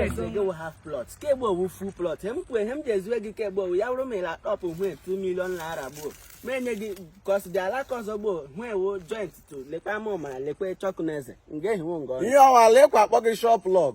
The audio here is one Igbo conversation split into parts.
years ago we half plot Skibo ọ wụ full plot he m kwue ihe m ji ezue gị Skibo ọ wụ ya wụrụ ma ịla top hwe 2 million naira gboo ma enye gị kọs dị alaka ọzọ gboo hwe wo joint to lekwa ma ọmara lekwa chọkụ na eze nga ehiwo nga ọnụ ihe ọwa lekwa akpọ gị shop log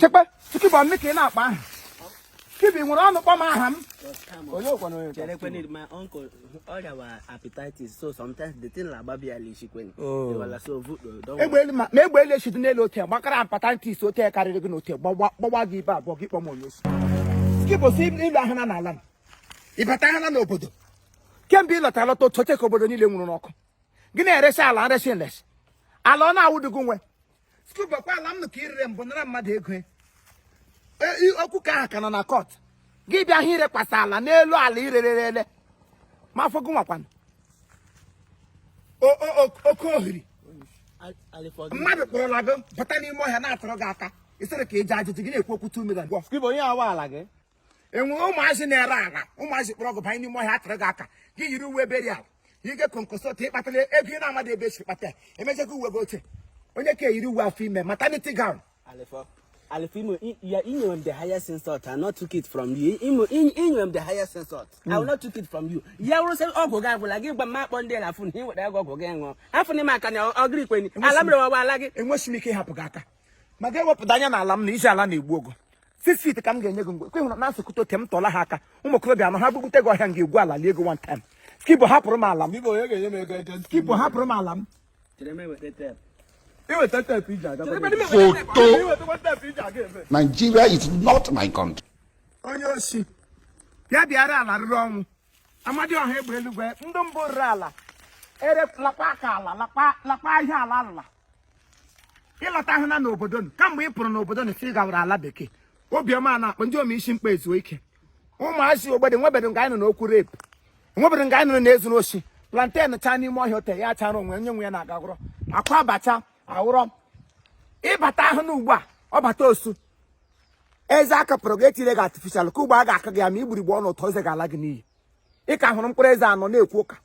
chekwa Skibo m ka ị na-akpọ aha Skibo were ọnụ kpọọ m aha m egbe elu ma egbe elu echidi n'elu ote gbakara hepatitis ote karịrị gị n'ote gbawaa gị ibe abụọ gị kpọọ m onye osi Skibo si ị lọhana n'ala m ị batahana n'obodo kemgbe ị lọta lọta otu oche ka obodo niile nwuru n'ọkụ gị na-eresi ala nresi nresi ala ọ na-awụdị gị nwe Skibo ọ kwa ala m nụ ka i rere mbụ nara mmadụ ego e, okwu nke ahụ ka nọ na court gị bịa ihe irekwasa ala n'elu ala i rerele ma afọ gị nwakwana oke ohiri mmadụ kpọrọla gị bata n'ime ọhịa na-atụrụ gị aka ị sịrị ka ị jee ajụjụ gị na-ekwu okwu 2 million onye awa ala gị e nwere ụmụazị na-ere ala ụmụazị kpọrọ gị banye n'ime ọhịa atụrụ gị aka gị yiri uwe burial ike konkosot ị kpatara ego ị na-amadị ebe e si kpata emechakwa uwe gị oche onye ka eyiri uwe afọ ime maternity gown Alifimo, you are in the highest insult. I not took it from you. You are in the highest insult. I will hmm. not took it from you. Ya wụrụ sị ọgwụ gị agwụla gị gwa m ma akpọọ ndị na afụ na ị weta ọgwụ gị ṅụọ. Afụ na ime aka na ọgịrị kwenye. Ala mere ọwa ala gị. Enweghị m ike ịhapụ gị aka. ma gị ewepụdị anya n'ala m na isi ala na-egbu ogo six feet ka m ga-enye gị mgbe kwe hụrụ na asụkụta oke m tọla ha aka ụmụ okorobịa anọ ha bubute gị ọhịa m ga-egwu ala lie gị one time Skibo hapụrụ m ala m Biko onye ga-enye m ego ego ntị? Skibo hapụrụ m ala m Iweta teepu iji aga. Foto. Iwetakwa teepu iji aga ebe. Nigeria is not my country. onye osi ya bịara ala rụrụ ọnwụ Amadioha egbe eluigwe ndị mbụ rere ala ere lakpa aka ala lakpa lakpa ihe ala ala ị lọtahana n'obodo nụ kamgbe ị pụrụ n'obodo nụ si gawara ala bekee obiọma a na-akpọ ndị omeisi mkpa ezuo ike ụmụazị ogbede nwebedo nga anyị nụrụ okwu rape nwebedo nga anyị nụrụ e zuru oshi plantain chaa n'ime ọhịa ote ya chara onwe onye nwe ya na-agagwụrọ akwa abacha awụrọ ị batahana ugbu a ọ bata osu eze akapụrụ gị etire gị artificial ka ugbu a ga-aka gị ya ma igburigbo ọnụ ụtọ eze ga-ala gị n'iyi ị ka hụrụ mkpụrụ eze anọ na-ekwu ụka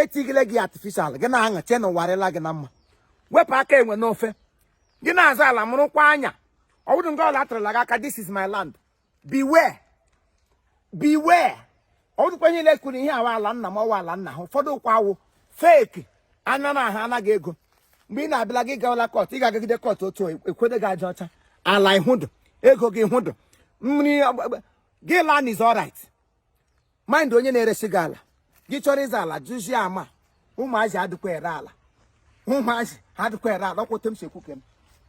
etigile gị artificial gị na-aṅa chee na ụwa arịla gị na mma wepụ aka enwe n'ofe gị na-azụ ala mụrụkwa anya ọ wụdị nga ọla atụrụla gị aka this is my land beware beware ọ wụdụkwa onye niile kwuru ihe a wụ ala nna m ọ wụ ala nna ha ụfọdụ wụkwa awụ fake anya na ha ana gị ego mgbe ị na-abịala gị gawala court ị ga-agagide court otu ekwede gị aja ọcha ala ị hụdụ ego gị hụdụ mmiri gị land is alright mind onye na-eresi gị ala gị chọrọ ịzụ ala jụzie ama ụmụazị adịkwa ere ala ụmụazị adịkwa ere ala ọkwụte m si ekwu ka m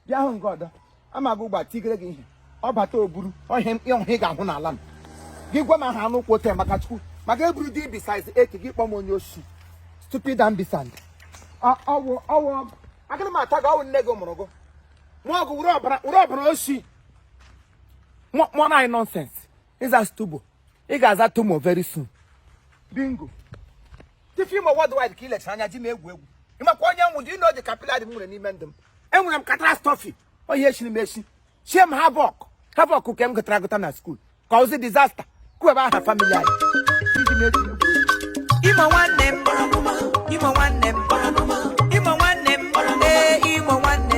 bịa hụ nke ọdọ amaghị ụgba tigere gị ihe ọ bata oburu ọhịa ọhụ ị ga-ahụ n'ala m gị gwa m aha anụ ụkwụ ote maka chukwu maka eburu dị bisiz eke gị kpọm onye osi stupid ambisand ọ wụ ọ wụ agaghị m ata gị ọ wụ nne gị mụrụ gị mụ ọgụ were ọbara were ọbara osi mụọ na anyị nonsense ị za stubo ị ga-aza tomo very soon bingo Chief Imo worldwide ka i lechara anya ji m egwu egwu ị makwa onye m wụ dị ị nọ dị capillary m nwere n'ime ndụ m enwere m catastrophe onye e chiri m echi chie m havoc havoc nke m gụtara agụta na school ka ozi disaster kwuebe aha family anyị iji m eji m egwu egwu. Imo nwanne m, Imo nwanne m,